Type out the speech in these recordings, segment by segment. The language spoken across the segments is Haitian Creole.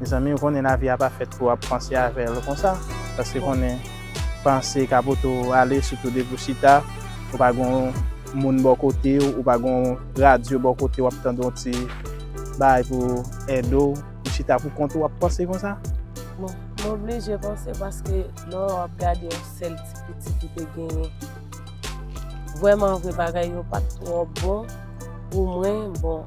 Mezanmi ou konnen lavi a pa fèt pou wap panse avèl konsa paske konnen panse ka pote w ale sitou depi w chita ou pa gen yon moun bò kote w ou pa gen yon radyo bò kote w ap tande yon ti bagay pou ede w ou chita pou kont ou wap panse konsa. Bon m oblije panse paske lè w ap gade yon sèl ti pitit ou te genyen vrèmanvre bagay yo pat twò bon pou mwen bon.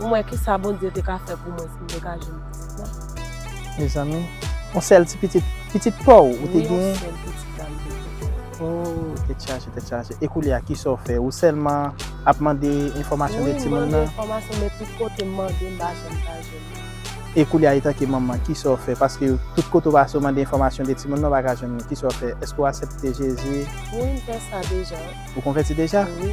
Ou mwen kisa Bondye te ka fè pou mwen si m te ka jwenn pitit mwen. Mezanmi. Yon sèl ti pitit. Pitit pa w ou te genyen? Wi yon sèl pitit sa m te genyen. Ooh tèt chaje tèt chaje. E koulye a kisa w fè? Ou sèlman ap mande enfòmasyon de timoun nan? Wi m mande enfòmasyon men tout kote m mande m pa janm ka jwenn li. E koulye a etanke manman kisa w fè? Paske tout kote w pase w mande enfòmasyon de timoun nan w pa ka jwenn li. Kisa w fè? Èske w asèpte Jezi? Wi m fè sa deja. Ou konvèti deja? Wi.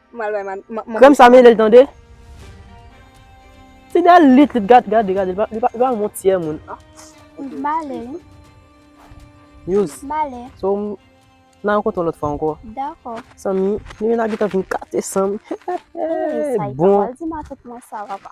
Krèm sa mele l tande. Ti dèyè l lit lit gade gade gade li pa yon bon tiyè moun. Male. Muse. Male. So m nan yon kote yon lòt fwa ankò. Dakò. San mi, li menm nan gen tan vin kate san m. Bon. Sa yon pati ma tout mwen sa papa.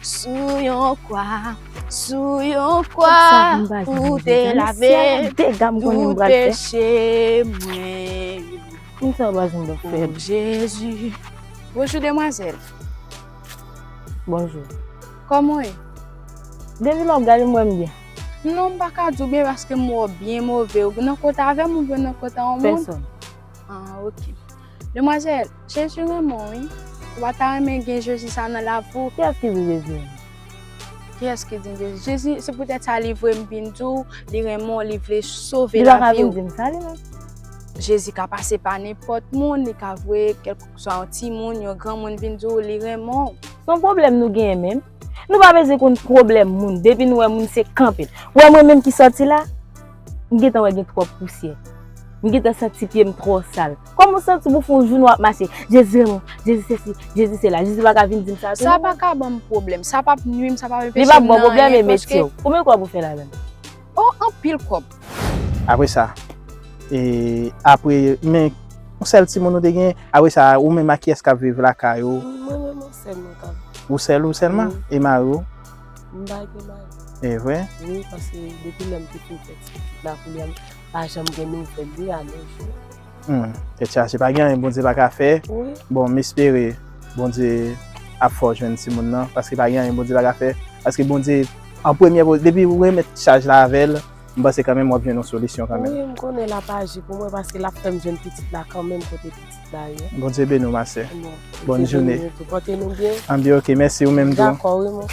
Sou yon kwa, sou yon kwa, ou te lave tout peche mwen yo. O Jezi. Bonjou demwazèl. Bonjou. Kòman w ye? Depi lè w gade m wè m byen. Non m pa ka di w byen paske m wè w byen move. Ou nan kote avè m oubyen w nan kote yon moun? Pèsòn. An ok. Demwazèl, Jezi renmen w wi. Ou pa ta renmen gen Jezi sa nan lavi w? Kiyès ki di Jezi renmen l? Kiyès ki di Jezi? Jezi, se poutèt sa li voye m vin di w li renmen w, li vle sove lavi w. Li pa ka vin di m sa li menm? Jezi ka pase pa nenpòt moun, li ka voye kèlkeswa yon timoun, yon granmoun vin di w li renmen w. Son pwoblèm nou genyen menm? Nou pa bezwen konn pwoblèm moun depi nou wè moun se kanpe. Ou wè mwen menm ki sòti la, m gentan wè gen twòp pousyè. M gentan santi pye m twò sal. Kòman w santi pou w fè yon jounen w ap mache, Jezi m, Jezi sesi, Jezi sela. Jezi pa ka vin di m sa tou non. Sa pa ka ban m pwoblèm. Sa p ap nui m, sa p ap anpeche m nan anyen paske. Li p ap ban w pwoblèm e metye w. Konbyen w kwè w pou fè ladan l? Oh anpil kob. Apre sa eh apre men yon sèl timoun nou te genyen apre sa ou menm ak kiyès kap viv lakay ou? Mwen menm ak sèm mwen kap viv. Ou sèl ou sèlman? E mari ou? M pa gen mari. E vre? Wi paske depi lèm te fin fè ti pitit la kounye a m pa janm gen nouvèl li a nos jours. Humm tèt chaje pa gen anyen Bondye pa ka fè bon m espere Bondye ap fè w jwenn timoun nan paske pa gen anyen Bondye pa ka fè paske Bondye an premye poz depi ou remèt chaj la avè l m panse kanmenm w ap jwenn yon solisyon kanmenm. Wi m konnen l ap aji pou mwen paske l ap fè m jwenn pitit la kanmenm kote pitit la ye. Bondye beni w ma sè. Bondye beni w tou. Bondye beni w tou. Pòte nou byen. An bi ok mèsi ou menm tou. Dakò wi mwen.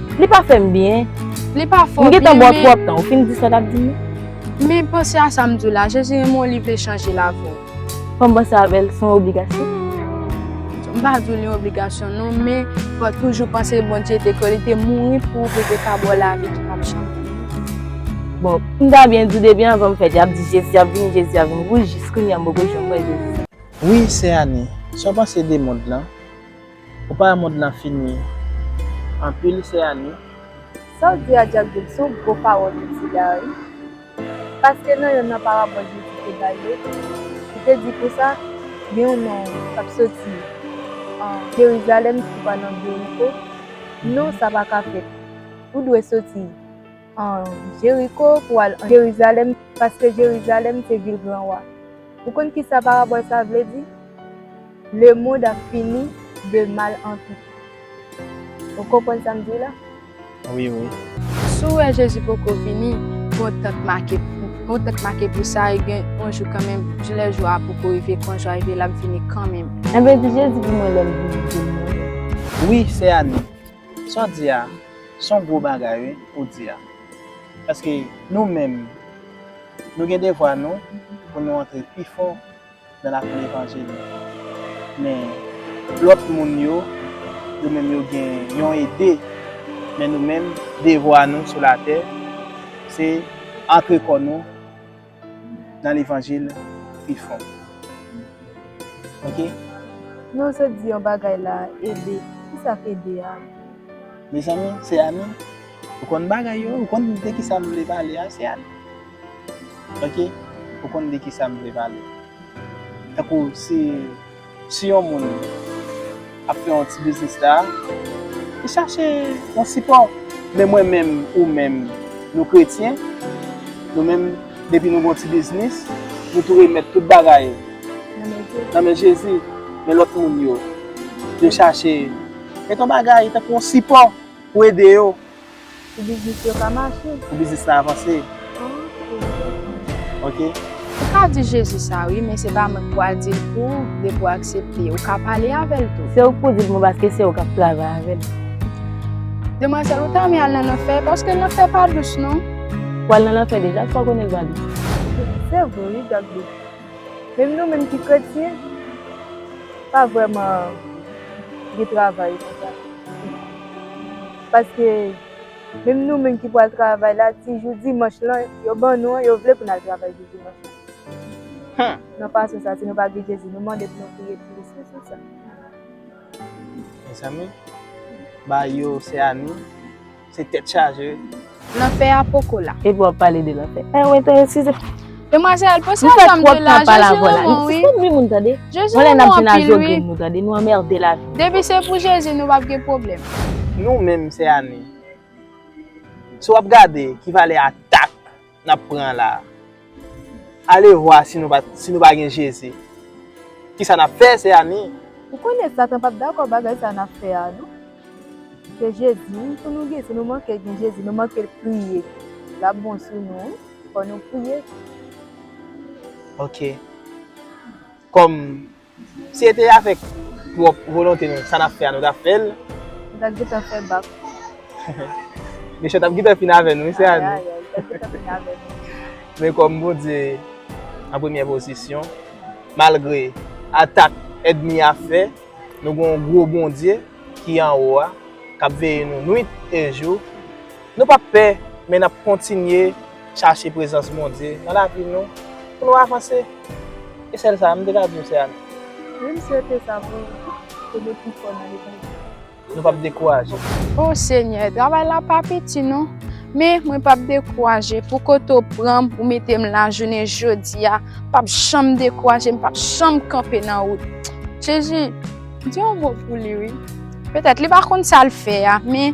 Li pa fè m byen. Li pa fè w byen men. M gentan bò twòp tan. Ou fin di sa w t ap di m? Men panse a sa m di w la. Jezi renmen w li vle chanje lavi w. Fò m panse avè l. Se yon obligasyon. M pa di w li yon obligasyon non men fò w toujou panse Bondye te kwè li te mouri pou ou pou l te ka ba w lavi ki pap janm fini. Bon, m ta byen di w depi anvan m fèt y ap di Jezi ap vini, Jezi ap vini. Wi jis kounya m poko janm wè Jezi. Wi sè Ani, sa w panse de mond lan? Ou pa wè mond lan fini anpil sè Annie. Saw di a Jack Dood son gwo pawòl ou di la wi paske nan yonn nan parabòl Jezi te bay yo li te di konsa gen yon nonm kap soti Jerizalèm ki pral nan Jeriko non sa paka fèt ou dwe soti An Jeriko pou al an Jerizalèm, paske Jerizalèm se vil gran wa. Ou konn ki sa parabòl sa a vle di? Lemond ap fini de mal an pi mal. Ou konprann sa m di w la? Wi, wi. Si w wè Jezi poko vini, pran tan k make pou sa e gen yon jou kanmenm, jou lè jou a poko rive, pran jou a rive, l ap vini kanmenm. Anben, di Jezi pou mwen lè l vini demen. Wi, sè Ani. Sa w di a, se yon gwo bagay wi ou di a. Paske nou menm, nou gen devwa nou pou nou antre pi fò nan lakou levanjil. Men, lòt moun yo, yo menm yo gen yon ede. Men nou menm, devwa nou sou latè, se antre kò nou. nan levanjil pi fon ok. Men ou sot di yon bagay la ede, kisa k ede a? Mezanmi se Annie ou konn bagay yo ou konn de kisa m vle pale a se Annie ok ou konn de kisa m vle pale tankou si Si yon moun ap fè yon ti biznis la, li chache yon sipò. Men mwen menm, ou menm, nou kretyen, nou menm depi nou gen yon ti biznis, nou tou remèt tout bagay nan men Jezi. Men lòt moun yo, yo chache met yon bagay tankou yon sipò pou ede yo. Pou biznis yo ka mache. Pou biznis la avanse. Ok. Ou ka di Jezi sa wi men se pa mwen ki pral dil pou ou depi ou aksepte. Ou ka pale avèl tou. Se ou ki pou dil pou mwen paske se ou kap travay avèl. Demwazèl ou ta renmen al nan lanfè paske lanfè pa dous non. Ou al nan lanfè deja sa ou konnen li pa dous. Se vre wi Gabby. Menm nou menm ki kretyen pa vrèman gen travay konsa. Paske menm nou menm ki pou al travay la ti jou dimanch lan yo ban nou an yo vle pou n al travay jou dimanch lan. Nan fason sa si nou pa gen Jezi nou mande pou nou priye plis nan sans sa. Mezanmi ba yo se a nou se tèt chaje. Lanfè a poko la. Epi wap pale de lanfè. Eh ou enterese de. Demwazèl pose a janm de la je Jezi renmen w wi. Sispann ri moun tande. Jezi renmen w anpil wi. Mwen lè nap di nan jogren nou tande nou anmerde lavi nou. Depi se pou Jezi nou pap gen pwoblèm. Nou menm sè Annie. Si wap gade ki valè atak nap pran la. Alevwa si nou pa gen Jezi. Kisa n ap fè, sè Annie? Ou konnen Satan p ap dakò bagay sa a n ap fè a non. Se Jezi pou nou gen. Si nou manke gen Jezi, nou manke priye, l ap bon sou nou wi. Fò nou priye tou. Ok. Kòm Si e te avèk pwòp volonte nou, sa n ap fè a nou t ap fè l. Nou t ap gentan fè bak. Mechan t ap gentan fin avè nou wi sè Ani. Ayayay, yo t ap gentan fin avè nou. Men kòm Bondye an premyè pozisyon, malgre atak èdmi a fè, nou gen yon gwo Bondye ki anwo a, k ap veye nou nwit e jou. Nou p ap pè, men n ap kontinye. Chache prezans Bondye nan lavi nou pou nou avanse. E sèl sa, m te ka di nou se amen. Wi m swete sa pou ou tou, kenbe pi fò nan levanjil. Nou pap dekouraje. O Senyè, travay la pa piti non. Men, mwen pap dekouraje, pou kote ou pran m, ou mete m la jounen jodi a, m pap janm dekouraje, m pap janm kanpe nan wout. Jezi, di yon mo pou li wi. Petèt li pa konn sa l fè a, men.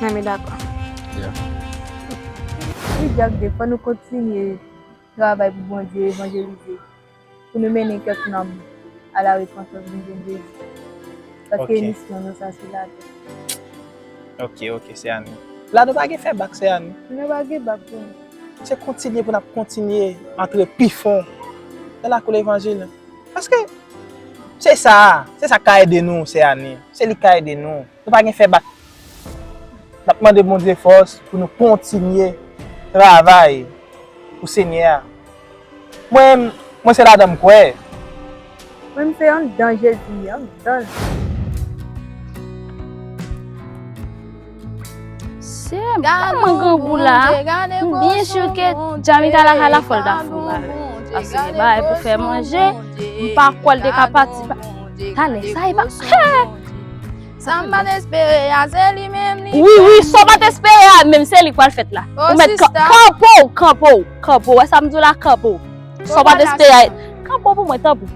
Nan men dakò. Yeah. Wi Jack Dave, fò nou kontinye travay pou Bondye, evanjelize, pou nou mennen kèk nanm a la repanstans vin jwenn Jezi. Paske misyon nou sa sou latè. Ok, ok sè Annie. La nou pa gen fè bak sè Annie. Nou pa gen bak pou nou. Se kontinye pou nap kontinye antre pi fon nan lakou levanjil. Paske se sa, se sak ka ede nou sè Annie. Se li k ka ede nou. Nou pa gen fè bak. N ap mande Bondye fòs pou nou kontinye travay pou Senyè a. Mwen, mwen se ladan m kwè. Mwen m se anndan Jezi, anndan l. Gade mwen grangou la, m byen sur ke Jamika la ka la fòl dafou. Ase li bay pou fè manje, m pa kwè l te ka pati. Tale sa epa Hee Sa m pat espere a se li menm li fè Wi wi sa w pat espere a menm se li k pral fèt la Ou mèt kanpe w kanpe w kanpe w wè sa m di w la kanpe w Sa w pat espere a Kanpe w pou mwen tanpri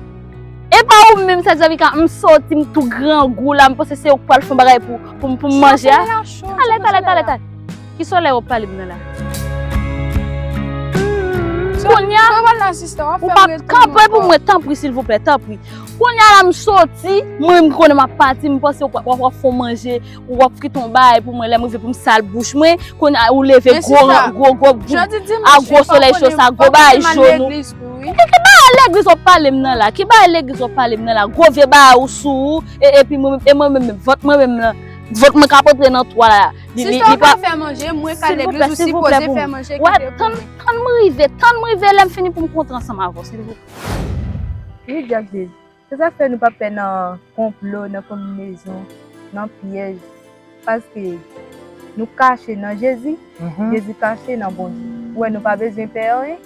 Epa ou menm sè Djamika m soti m tou grangou la m panse se ou k pral fon bagay pou m manje a Tale tale tale tale Ki solèy wap pale de nan la? Kounya ou pa kanpe pou mwen tanpri silvouplè tanpri Kounya la m soti mwen m konnen m ap pati m panse w ap fon manje ou ap frit on bay pou mwen lè m rive pou m sal bouch mwen kounya ou leve gwo gwo gwo a gwo solèy cho sa gwo bagay joun ou Ki bagay legliz wap pale m nan la ki bagay legliz wap pale m nan la gwo vye bagay ou sou ou e mwen menm vant mwen menm nan vant mwen ka p antre nan twa la. Sista ou pa fè manje, mwen ka legliz ou sipoze fè manje ki te pou mwen. Tann m rive, tann m rive lèm fini pou m kontre ansanm avè w silvouplè. Wi Jack Jay, se sak fè nou pa pè nan konplo, nan konbinezon, nan pyèj, paske nou kache nan Jezi, Jezi kache nan Bondye. Ou wè nou pa bezwen pè anyen.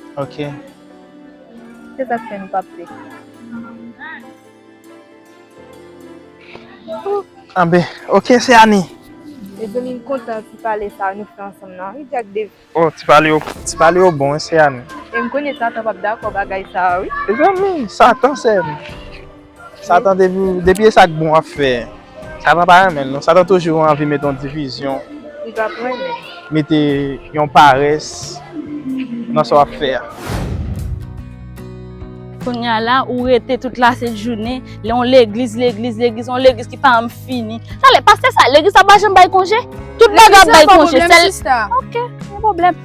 Se sak fè nou pa pè. Anbe, ok se Annie. Mezanmi m kontan ti pale sa nou fè ansanm nan wi Jack Dave. Oh ti pale yo ti pale yo bon wi se Annie. E m konnen Satan pap dakò bagay sa wi. Mezanmi Satan sèm. Satan depi depi e sak bon wap fè. Sa nou pa renmen non. Satan toujou anvi mete yon divizyon. Li pa p renmen. Mete yon parès nan sa w ap fè a. Kounye a la, ou rete tout lasent jounen, lè yon legliz, legliz, legliz, yon legliz ki pa janm fini. Sa vle, pastè sa, legliz sa pa janm bay konje? Tout bagay ap bay konje, sèl. Legliz la pa pwoblèm sista. Ok, pa gen pwoblèm.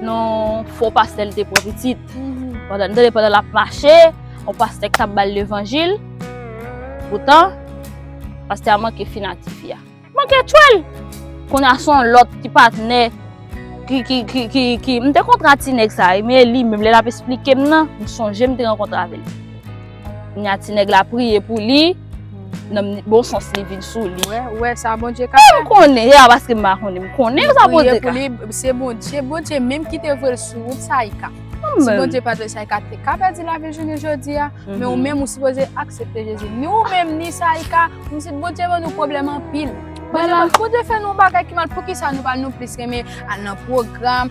Non fo pastè li te pran pitit. Pandan nou tande pandan l ap mache, yon pastè ki t ap ba l levanjil. Poutan, pastè a manke fin ak tifi a. Manke tchwe l! Kounye a se yon lòt ki patnè ki... M te kontre ak ti nèg sa a, men li menm lè l ap esplike m nan, m sonje m te rankontre avè l. Nya ti nèg la priye pou li, nan bon sans li vin sou li. Wè, wè sa bon Dye ka fè. Mwen konnen, e a baske mwen konnen, mwen konnen sa bon Dye ka. Mwen priye pou li, se bon Dye, bon Dye menm ki te vwe l sou wout sa i ka. Mwen. Si bon Dye pa te vwe l sa i ka, te ka pè di la vil jounen jodi a, men ou menm ou sipoze aksepte Jezi. Ni ou menm, ni sa i ka, mwen se bon Dye ban nou pwoblèm anpil. Bon Dye fè nou bagay ki mal, pou ki sa nou pa nou plis renmen al nan pwogram.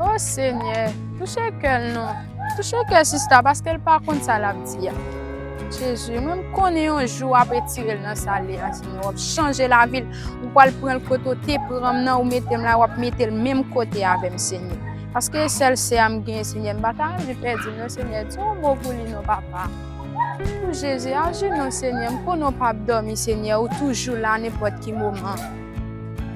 Oh Senyè, touche kè l non. Touche kè sista paske l pa konn sa l ap di a. Jezi, mwen m konnen yon jou w ap etire l nan sa l ye a Senyè. W ap chanje lavi l. Ou pral pran l kote w te pran m nan, ou mete m la, w ap mete l menm kote avè m Senyè. Paske e sèl sè a m genyen Senyè, m pa ta anvi pèdi l non Senyè. Di yon mo pou li non papa. Ooh Jezi ajenou senyè m konnen w pap dòmi senyè ou toujou la nenpòt ki moman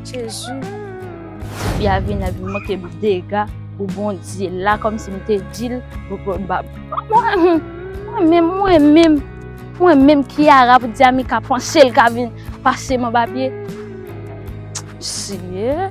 Jezi. Ti fi a vin avin manke m dega pou Bondye la kòmsi m te di l Mwen menm mwen menm mwen menm Kiara pou di Amika panse l ka vin pase m anba pye Seyè.